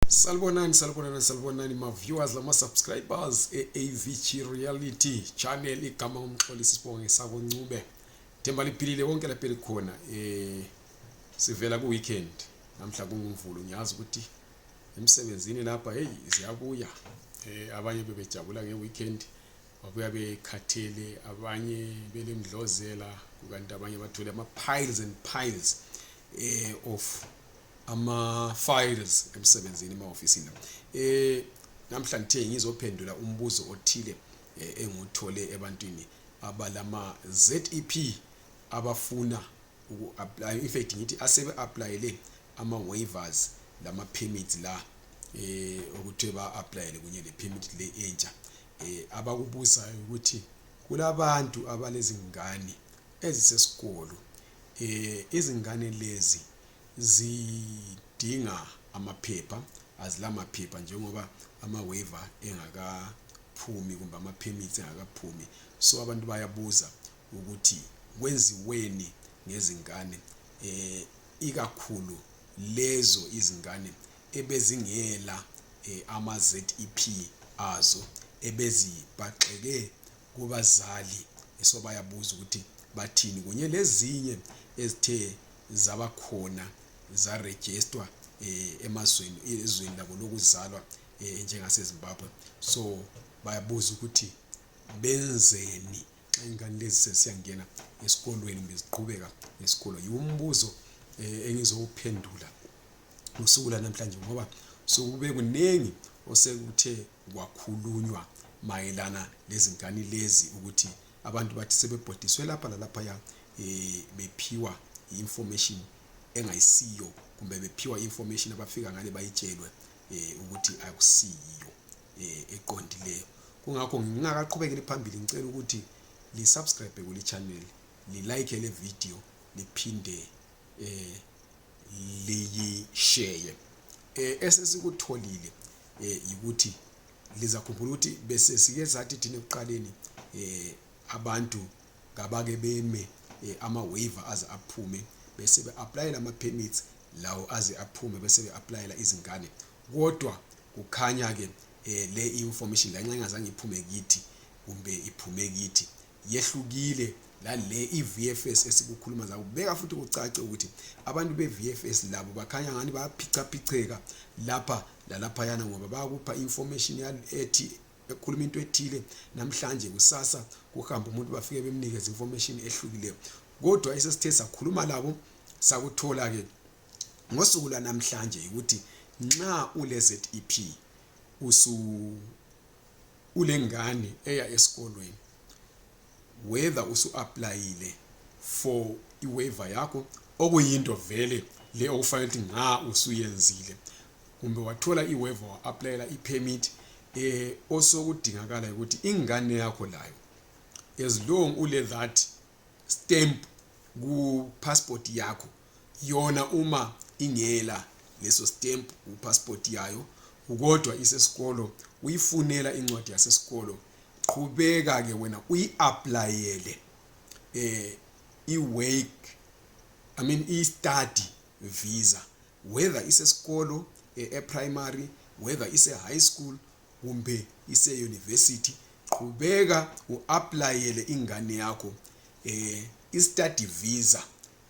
Salibonani, salibonani, salibonani ma viewers lama subscribers eAVG Reality channel igama umxolisi sibonge sako Ncube. Themba liphilile konke lapha likhona eh sivela ku weekend namhla kungumvulo ngiyazi ukuthi emsebenzini lapha hey siyabuya eh abanye bebejabula nge weekend babuya bekhathele abanye belemdlozela kukanti abanye bathole ama piles and piles eh of ama files emsebenzini emahofisini eh namhla ngithe ngizophendula umbuzo othile eh, engiwuthole ebantwini abalama ZEP abafuna uku apply in fact ngithi asebe applyele ama waivers lama permits la eh ukuthi ba applyele kunye le permit le entsha eh abakubuzayo ukuthi kulabantu abalezingane ezisesikolo eh izingane lezi zidinga amaphepha azilamaphepha njengoba ama-waiver engakaphumi kumbe ama-permits engakaphumi so abantu bayabuza ukuthi kwenziweni ngezingane eh ikakhulu lezo izingane ebezingela eh, ama-ZEP azo ebezibaxeke kubazali esobayabuza ukuthi bathini kunye lezinye ezithe zabakhona zarejistwa um eh, emazweni ezweni labo lokuzalwa um eh, njengasezimbabwe so bayabuza ukuthi benzeni xa ingane lezi sesiyangena esikolweni kumbe ziqhubeka nesikolo yiwumbuzo um eh, engizowuphendula ngosuku lanamhlanje ngoba sokube kuningi osekuthe Kwakhulunywa mayelana lezingane lezi ukuthi abantu bathi sebebhodiswe lapha lalaphaya um bephiwa i-information engayisiyo kumbe bephiwa i-information abafika ngale bayitshelwe um ukuthi akusiyiyo um eqondileyo kungakho ngingakaqhubekeli phambili ngicela ukuthi lisubscribe kuli-channel lilike le video liphinde eh, liyisheye eh, esesikutholile eh, yikuthi lizakhumbula ukuthi bese sike sathi thina ekuqaleni eh, abantu kabake beme eh, ama-waiver aze aphume bese be-aplayela ama-permits lawo aze aphume bese be-aplayela izingane kodwa kukhanya-ke eh, le information lanxa ingazange iphume kithi kumbe iphume kithi yehlukile lale iVFS esikukhuluma zabo beka futhi kucace ukuthi abantu beVFS labo bakhanya ngani bayaphichaphicheka lapha lalaphayana ngoba bayakupha information ethi ekhuluma into ethile namhlanje kusasa kuhamba umuntu bafike bemnikeza information ehlukileyo kodwa esesithe sakhuluma labo sakuthola ke ngosuku lwanamhlanje ukuthi nxa ule ZEP usu ulengane eya esikolweni whether usu-aplayile for iwaiver yakho okuyinto vele le okufanele ukuthi nga usuyenzile kumbe wathola iwaiver wa-aplayela ipermit eh osokudingakala ukuthi ingane yakho layo as long ule that stamp ku passport yakho yona uma ingela leso stamp kupassport yayo kodwa isesikolo uyifunela incwadi yasesikolo qhubeka ke wena uyi-aplayele eh i-wake i mean i-study visa whether isesikolo eh, e-primary whether ise-high school kumbe ise-university qhubeka u-aplayele ingane yakho eh i-study visa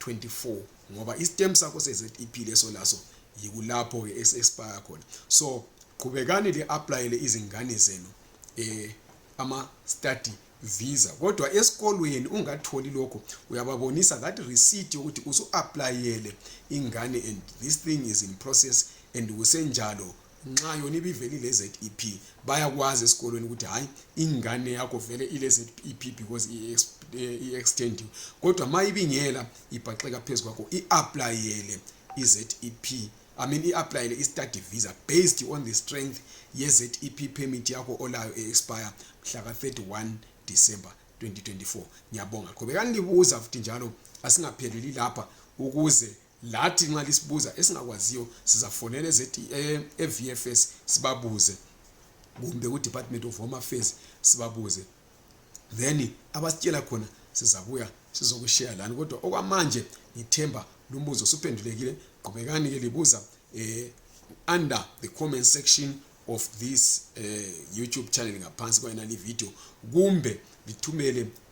24 ngoba isitem sakho seZEP leso laso yikulapho ke expire khona so qhubekani le applyele izingane zenu eh ama study visa kodwa esikolweni ungatholi lokho uyababonisa that receipt yokuthi usu applyele ingane and this thing is in process and kusenjalo nxa yona ibivele ile-zep bayakwazi esikolweni ukuthi hhayi ingane yakho vele ile-zep because i-extendiwe kodwa ma ibingela ibhaxeka phezu kwakho i-aplayele i-zep I mean i-aplayele i-study visa based on the strength ye-zep permit yakho olayo e-expire mhla ka-31 december 2024 ngiyabonga qhubekani libuza futhi njalo asingapheleli lapha ukuze lathi nxa lisibuza esingakwaziyo sizafonela e-vfs sibabuze kumbe kudepartment of home affairs sibabuze then abasitshela khona sizabuya sizokusheya lani kodwa okwamanje ngithemba lumbuzo suphendulekile qhubekani ke libuza um under the comment section of this uh, youtube channel ngaphansi kwayonale video kumbe lithumele